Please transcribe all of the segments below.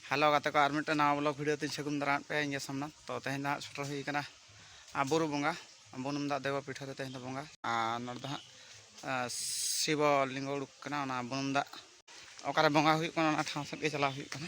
hello ᱜᱟᱛᱮ ᱠᱚ ᱟᱨ ᱢᱤᱫᱴᱮᱱ ᱱᱟᱣᱟ ᱵᱞᱚᱜ ᱵᱷᱤᱰᱤᱭᱳ ᱛᱮᱧ ᱥᱟᱹᱜᱩᱱ ᱫᱟᱨᱟᱢᱮᱫ ᱯᱮᱭᱟ ᱤᱧ ᱥᱟᱢᱱᱟ ᱛᱚ ᱛᱮᱦᱮᱧ ᱫᱚ ᱦᱟᱸᱜ ᱥᱮᱴᱮᱨ ᱦᱩᱭ ᱠᱟᱱᱟ ᱵᱩᱨᱩ ᱵᱚᱸᱜᱟ ᱵᱩᱱᱩᱢ ᱫᱟᱜ ᱫᱮᱵᱟ ᱯᱤᱴᱷᱟᱹ ᱨᱮ ᱛᱮᱦᱮᱧ ᱫᱚ ᱵᱚᱸᱜᱟ ᱟᱨ ᱱᱚᱰᱮ ᱫᱚ ᱦᱟᱸᱜ ᱥᱤᱵᱚ ᱞᱤᱝᱜᱚ ᱩᱰᱩᱠ ᱠᱟᱱᱟ ᱚᱱᱟ ᱵᱩᱱᱩᱢ ᱫᱟᱜ ᱚᱠᱟᱨᱮ ᱵᱚᱸᱜᱟ ᱦᱩᱭᱩᱜ ᱠᱟᱱᱟ ᱚᱱᱟ ᱴᱷᱟᱶ ᱥᱮᱫ ᱜᱮ ᱪᱟᱞᱟᱣ ᱦᱩᱭᱩᱜ ᱠᱟᱱᱟ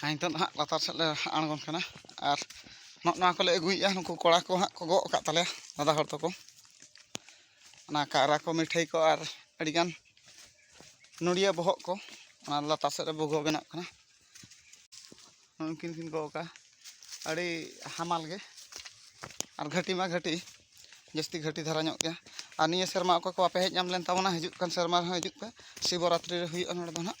ᱦᱮᱸ ᱱᱤᱛᱚᱜ ᱫᱚ ᱦᱟᱸᱜ ᱞᱟᱛᱟᱨ ᱥᱮᱫ ᱞᱮ ᱟᱬᱜᱚᱱ ᱠᱟᱱᱟ ᱟᱨ ᱱᱚᱜᱼᱚ ᱱᱚᱣᱟ ᱠᱚᱞᱮ ᱟᱹᱜᱩᱭᱮᱫᱼᱟ ᱱᱩᱠᱩ ᱠᱚᱲᱟ ᱠᱚ ᱦᱟᱸᱜ ᱠᱚ ᱜᱚᱜ ᱟᱠᱟᱫ ᱛᱟᱞᱮᱭᱟ ᱫᱟᱫᱟ ᱦᱚᱲ ᱛᱟᱠᱚ ᱚᱱᱟ ᱠᱟᱭᱨᱟ ᱠᱚ ᱢᱤᱴᱷᱟᱹᱭ ᱠᱚ ᱟᱨ ᱟᱹᱰᱤᱜᱟᱱ ᱱᱚᱲᱤᱭᱟᱹ ᱵᱚᱦᱚᱜ ᱠᱚ ᱚᱱᱟ ᱞᱟᱛᱟᱨ ᱥᱮᱫ ᱨᱮ ᱵᱷᱩᱜᱟᱹ ᱵᱮᱱᱟᱜ ᱠᱟᱱᱟ ᱩᱱᱠᱤᱱ ᱠᱤᱱ ᱜᱚᱜ ᱟᱠᱟᱫᱼᱟ ᱟᱹᱰᱤ ᱦᱟᱢᱟᱞ ᱜᱮ ᱟᱨ ᱜᱷᱟᱹᱴᱤ ᱢᱟ ᱜᱷᱟᱹᱴᱤ ᱡᱟᱹᱥᱛᱤ ᱜᱷᱟᱹᱴᱤ ᱫᱷᱟᱨᱟ ᱧᱚᱜ ᱜᱮᱭᱟ ᱟᱨ ᱱᱤᱭᱟᱹ ᱥᱮᱨᱢᱟ ᱚᱠᱚᱭ ᱠᱚ ᱵᱟᱯᱮ ᱦᱮᱡ ᱧᱟᱢ ᱞᱮᱱ ᱛᱟᱵᱚᱱᱟ ᱦᱤᱡᱩᱜ ᱠᱟᱱ ᱥᱮᱨᱢᱟ ᱨᱮᱦᱚᱸ ᱦᱤᱡᱩᱜ ᱯᱮ ᱥᱤᱵᱚᱨᱟᱛᱨᱤ ᱨᱮ ᱦᱩᱭᱩᱜᱼᱟ ᱱᱚᱰᱮ ᱫᱚ ᱦᱟᱸᱜ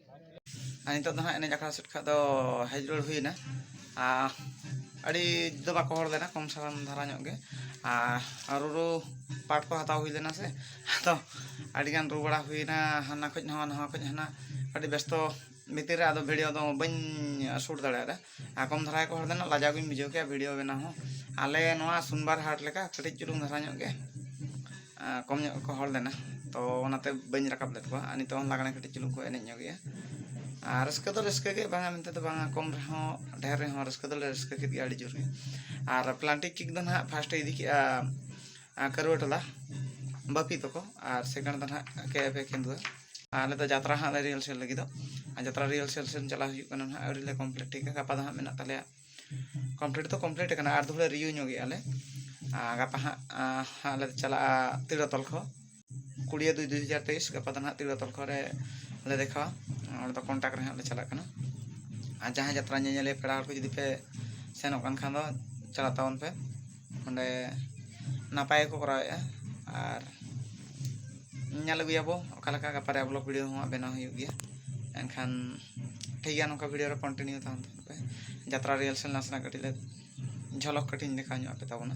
ᱱᱤᱛᱚᱜ ᱫᱚ ᱦᱟᱸᱜ ᱮᱱᱮᱡ ᱟᱠᱷᱲᱟ ᱥᱮᱫ ᱠᱷᱟᱡ ᱫᱚ ᱦᱮᱡ ᱨᱩᱣᱟᱹᱲ ᱦᱩᱭᱱᱟ ᱟᱨ ᱟᱹᱰᱤ ᱫᱚ ᱵᱟᱠᱚ ᱦᱚᱲ ᱞᱮᱱᱟ ᱠᱚᱢ ᱥᱟᱨᱟᱢ ᱫᱷᱟᱨᱟ ᱧᱚᱜ ᱜᱮ ᱟᱨ ᱨᱩᱨᱩ ᱯᱟᱴ ᱠᱚ ᱦᱟᱛᱟᱣ ᱦᱩᱭ ᱞᱮᱱᱟ ᱥᱮ ᱟᱫᱚ ᱟᱹᱰᱤᱜᱟᱱ ᱨᱩ ᱵᱟᱲᱟ ᱦᱩᱭᱱᱟ ᱦᱟᱱᱟ ᱠᱷᱚᱡ ᱱᱚᱣᱟ ᱱᱚᱣᱟ ᱠᱷᱚᱡ ᱦᱟᱱᱟ ᱟᱹᱰᱤ ᱵᱮᱥᱛᱚ ᱵᱷᱤᱛᱤᱨ ᱨᱮ ᱟᱫᱚ ᱵᱷᱤᱰᱤᱭᱳ ᱫᱚ ᱵᱟᱹᱧ ᱥᱩᱴ ᱫᱟᱲᱮᱭᱟᱫᱟ ᱟᱨ ᱠᱚᱢ ᱫᱷᱟᱨᱟ ᱠᱚ ᱦᱚᱲ ᱫᱚ ᱱᱟᱜ ᱞᱟᱡᱟᱣ ᱜᱤᱧ ᱵᱩᱡᱷᱟᱹᱣ ᱠᱮᱭᱟ ᱵᱷᱤᱰᱤᱭᱳ ᱵᱮᱱᱟᱣ ᱦᱚᱸ ᱟᱞᱮ ᱱᱚᱣᱟ ᱥᱩᱱᱵᱟᱨ ᱦᱟᱴ ᱞᱮᱠᱟ ᱠᱟᱹᱴᱤᱡ ᱪᱩᱞᱩᱝ ᱫᱷᱟᱨᱟ ᱧᱚᱜ ᱜᱮ ᱠᱚᱢ ᱧᱚᱜ ᱜᱮᱠᱚ ᱦᱚᱲ ᱞᱮᱱᱟ ᱛᱚ ᱚᱱᱟᱛᱮ ᱵᱟᱹᱧ ᱨᱟᱠᱟᱵ ᱞᱮᱫ ᱠᱚᱣᱟ ᱟᱨ ᱱᱤᱛᱚᱜ ᱦᱚᱸ ᱞᱟᱜᱽᱬᱮ ᱠᱟᱹᱴᱤᱡ ᱪᱩᱞᱩᱝ ᱠᱚ ᱮᱱᱮᱡ ᱧᱚᱜᱮᱜᱼᱟ ᱟᱨ ᱨᱟᱹᱥᱠᱟᱹ ᱫᱚ ᱨᱟᱹᱥᱠᱟᱹ ᱜᱮ ᱵᱟᱝᱟ ᱢᱮᱱᱛᱮ ᱫᱚ ᱵᱟᱝᱟ ᱠᱚᱢ ᱨᱮᱦᱚᱸ ᱰᱷᱮᱨ ᱨᱮᱦᱚᱸ ᱨᱟᱹᱥᱠᱟᱹ ᱫᱚᱞᱮ ᱨᱟᱹᱥᱠᱟᱹ ᱠᱮᱫ ᱜᱮᱭᱟ ᱟᱹᱰᱤ ᱡᱳᱨ ᱜᱮ ᱟᱨ ᱯᱞᱟᱱᱴᱤᱠ ᱠᱤᱠ ᱫᱚ ᱱᱟᱜ ᱯᱷᱟᱥᱴᱮ ᱤᱫᱤ ᱠᱮᱜᱼᱟ ᱠᱟᱹᱨᱩᱣᱟᱹ ᱴᱚᱞᱟ ᱵᱟᱹᱯᱤ ᱛᱟᱠᱚ ᱟᱨ ᱥᱮᱠᱮᱱᱰ ᱫᱚ ᱱᱟᱦᱟᱜ ᱠᱮ ᱮᱯᱷ ᱮ ᱠᱮᱱᱫᱩᱣᱟ ᱟᱞᱮ ᱫᱚ ᱡᱟᱛᱨᱟ ᱦᱟᱸᱜ ᱞᱮ ᱨᱤᱦᱟᱨᱥᱮᱞ ᱞᱟᱹᱜᱤᱫᱚᱜ ᱟᱨ ᱡᱟᱛᱨᱟ ᱨᱤᱦᱟᱨᱥᱮᱞ ᱥᱮᱱ ᱪᱟᱞᱟᱣ ᱦᱩᱭᱩᱜ ᱠᱟᱱᱟ ᱱᱟᱦᱟᱜ ᱟᱹᱣᱨᱤ ᱞᱮ ᱠᱚᱢᱯᱞᱤᱴ ᱴᱷᱤᱠᱟ ᱜᱟᱯᱟ ᱫᱚ ᱦᱟᱸᱜ ᱢᱮᱱᱟᱜ ᱛᱟᱞᱮᱭᱟ ᱠᱚᱢᱯᱞᱤᱴ ᱫᱚ ᱠᱚᱢᱯᱞᱤᱴ ᱟᱠᱟᱱᱟ ᱟᱨ ᱫᱚᱦᱲᱟ ᱨᱤᱭᱩ ᱧᱚᱜᱮᱜᱼᱟ ᱞᱮ ᱟᱨ ᱜᱟᱯᱟ ᱦᱟᱸᱜ ᱦᱟᱸᱜ ᱞᱮ ᱪᱟᱞᱟᱜᱼᱟ ᱛᱤᱲᱟᱹ ᱛᱚᱞ ᱠᱚ ᱠᱩᱲᱤᱭᱟᱹ ᱫᱩᱭ ᱫᱩᱭ ᱦᱟᱡᱟᱨ ᱛᱮᱭᱤᱥ ᱜᱟᱯᱟ ᱫᱚ ᱱᱟᱦᱟᱜ ᱛᱤᱨᱞᱟᱹ ᱛᱚᱞᱠᱷᱚ ᱨᱮ ᱞᱮ ᱫᱮᱠᱷᱟᱣᱟ ᱚᱸᱰᱮ ᱫᱚ ᱠᱚᱱᱴᱟᱠ ᱨᱮ ᱦᱟᱸᱜ ᱞᱮ ᱪᱟᱞᱟᱜ ᱠᱟᱱᱟ ᱟᱨ ᱡᱟᱦᱟᱸᱭ ᱡᱟᱛᱨᱟ ᱧᱮᱧᱮᱞᱤᱭᱟᱹ ᱯᱮᱲᱟ ᱦᱚᱲ ᱠᱚ ᱡᱩᱫᱤ ᱯᱮ ᱥᱮᱱᱚᱜ ᱠᱟᱱ ᱠᱷᱟᱱ ᱫᱚ ᱪᱟᱞᱟᱜ ᱛᱟᱵᱚᱱ ᱯᱮ ᱚᱸᱰᱮ ᱱᱟᱯᱟᱭ ᱜᱮᱠᱚ ᱠᱚᱨᱟᱣᱮᱜᱼᱟ ᱟᱨ ᱧᱮᱞ ᱟᱹᱜᱩᱭᱟᱵᱚ ᱚᱠᱟ ᱞᱮᱠᱟ ᱜᱟᱯᱟ ᱨᱮᱭᱟᱜ ᱵᱞᱚᱜᱽ ᱵᱷᱤᱰᱭᱳ ᱦᱚᱸ ᱵᱮᱱᱟᱣ ᱦᱩᱭᱩᱜ ᱜᱮᱭᱟ ᱮᱱᱠᱷᱟᱱ ᱴᱷᱤᱠ ᱜᱮᱭᱟ ᱱᱚᱝᱠᱟ ᱵᱷᱤᱰᱭᱳ ᱨᱮ ᱠᱚᱱᱴᱤᱱᱤᱭᱩ ᱛᱟᱦᱮᱱ ᱛᱟᱵᱚᱱ ᱯᱮ ᱡᱟᱛᱨᱟ ᱨᱤᱦᱟᱨᱥᱮᱞ ᱱᱟᱥᱮᱱᱟᱜ ᱠᱟᱹᱴᱤᱡ ᱞᱮ ᱡᱷᱚᱞᱚᱠ ᱠᱟᱹᱴᱤᱡ ᱤᱧ ᱫᱮᱠᱷᱟᱣ ᱧᱚᱜ ᱟᱯᱮ ᱛᱟᱵᱚᱱᱟ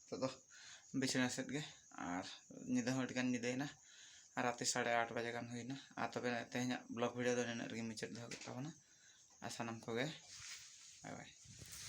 ᱱᱤᱛᱚᱜ ᱫᱚ ᱵᱤᱪᱷᱱᱟᱹ ᱥᱮᱫ ᱜᱮ ᱟᱨ ᱧᱤᱫᱟᱹ ᱦᱚᱸ ᱟᱹᱰᱤ ᱜᱟᱱ ᱧᱤᱫᱟᱹᱭᱮᱱᱟ ᱟᱨ ᱨᱟᱛᱮ ᱥᱟᱲᱮ ᱟᱴ ᱵᱟᱡᱮ ᱜᱟᱱ ᱦᱩᱭᱮᱱᱟ ᱟᱨ ᱛᱚᱵᱮ ᱛᱮᱦᱮᱧᱟᱜ ᱵᱞᱚᱜᱽ ᱵᱷᱤᱰᱤᱭᱳ ᱫᱚ ᱱᱤᱱᱟᱹᱜ ᱨᱮᱜᱮ ᱢᱩᱪᱟᱹᱫ ᱫᱚᱦᱚ ᱠᱮᱫ ᱛᱟᱵᱚᱱᱟ ᱟᱨ ᱥᱟᱱᱟᱢ ᱠᱚᱜᱮ ᱵᱟᱭ ᱵᱟᱭ